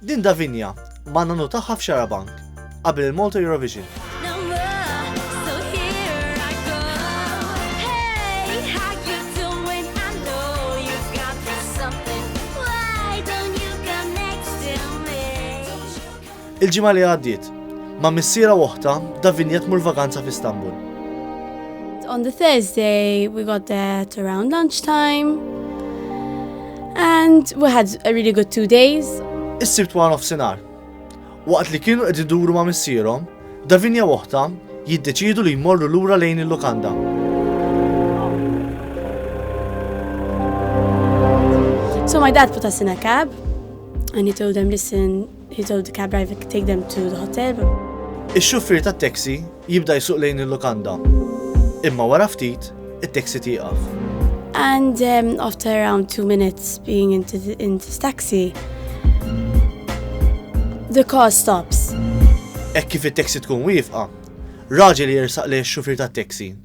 Din Davinia, ma' nonnu tagħha f'Xarabank, qabel il-Malta Eurovision. Il-ġimgħa li għaddiet, ma' missiera u oħta, Davinia tmur vaganza f'Istanbul. On the Thursday, we got there to around lunchtime. And we had a really good two days. Is-sibt wara nofsinhar. Waqt li kienu qed iduru ma' missierhom, Davinia oħta jiddeċidu li jmorru lura lejn il-lukanda. So my dad put us in a cab and he told them, listen, He told the cab driver to take them to the hotel. Ix-xufier tat-taxi jibda jsuq lejn il-lukanda. Imma wara ftit, it-taxi tieqaf. And um, after around two minutes being into, the, into this taxi, the car stops. Hekk kif it-taxi tkun wieqfa, raġel jersaq lejn ix-xufier tat-taxi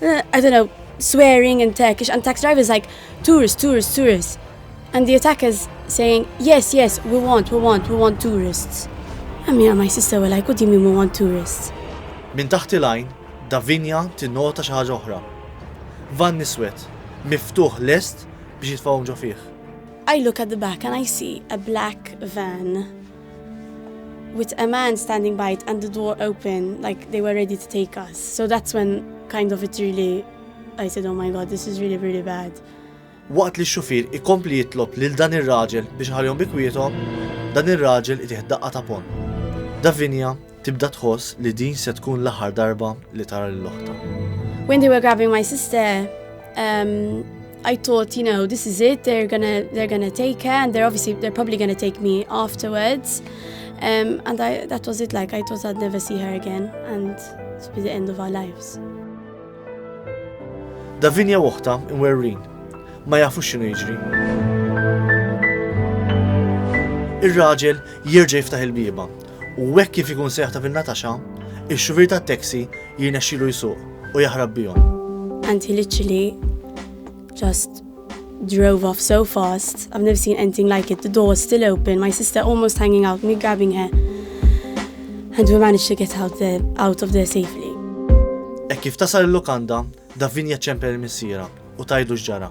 Uh, I don't know, swearing in Turkish, and tax drivers like, tourists, tourists, tourists. And the attackers saying, yes, yes, we want, we want, we want tourists. And me and my sister were like, what do you mean we want tourists? Min taħt il-għajn, Davinja tinnota xi ħaġa oħra. Van niswet, miftuħ lest biex jitfawhom ġo fih. I look at the back and I see a black van with a man standing by it and the door open, like they were ready to take us. So that's when kind of it really, I said, oh my god, this is really, really bad. Waqt li x-xufir ikompli jitlob lil dan ir-raġel biex ħalihom bikwietom, dan ir-raġel itih daqqa ta' pon. Davinia Tibda tħoss li din se tkun l-aħħar darba li tara lil oħtha. When they were grabbing my sister, um, I thought, you know, this is it. They're gonna they're gonna take her, and they're obviously they're probably gonna take me afterwards. Um, and I, that was it. Like I thought I'd never see her again, and it would be the end of our lives. Davinia woħta imwerrin, ma jafux xinu jiġri. Ir-raġel jirġa jiftaħ il-biba u hekk kif ikun se jaħtaf in-nataxa, ix-xufier tat-taxi jirnexxilu jsuq u jaħrab bihom. And he literally just drove off so fast, I've never seen anything like it, the door still open, my sister almost hanging out, me grabbing her, and we managed to get out, there, out of there safely. E kif tasal il-lukanda, Davinia ċempel il-missira u tajdu xġara.